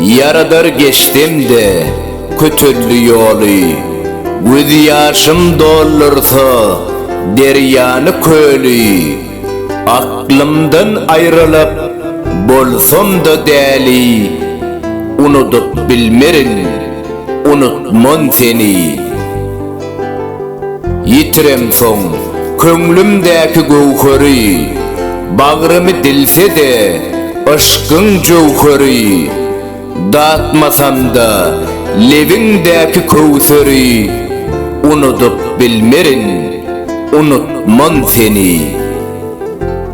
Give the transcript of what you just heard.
Ýaradar geçsem-de kötelli ýoly, Göz ýaşym doldursa derýany köli. Aklymdan aýrylyp bolsam-da däli, Unudyp bilmerin, unutman seni. Ýitiremsoň, köňlümdäki göwheri, Bagrymy dilse-de, yşkyň jöwheri. Datmasam-da, lebiňdäki köwseri, Unudyp bilmerin, unutman seni.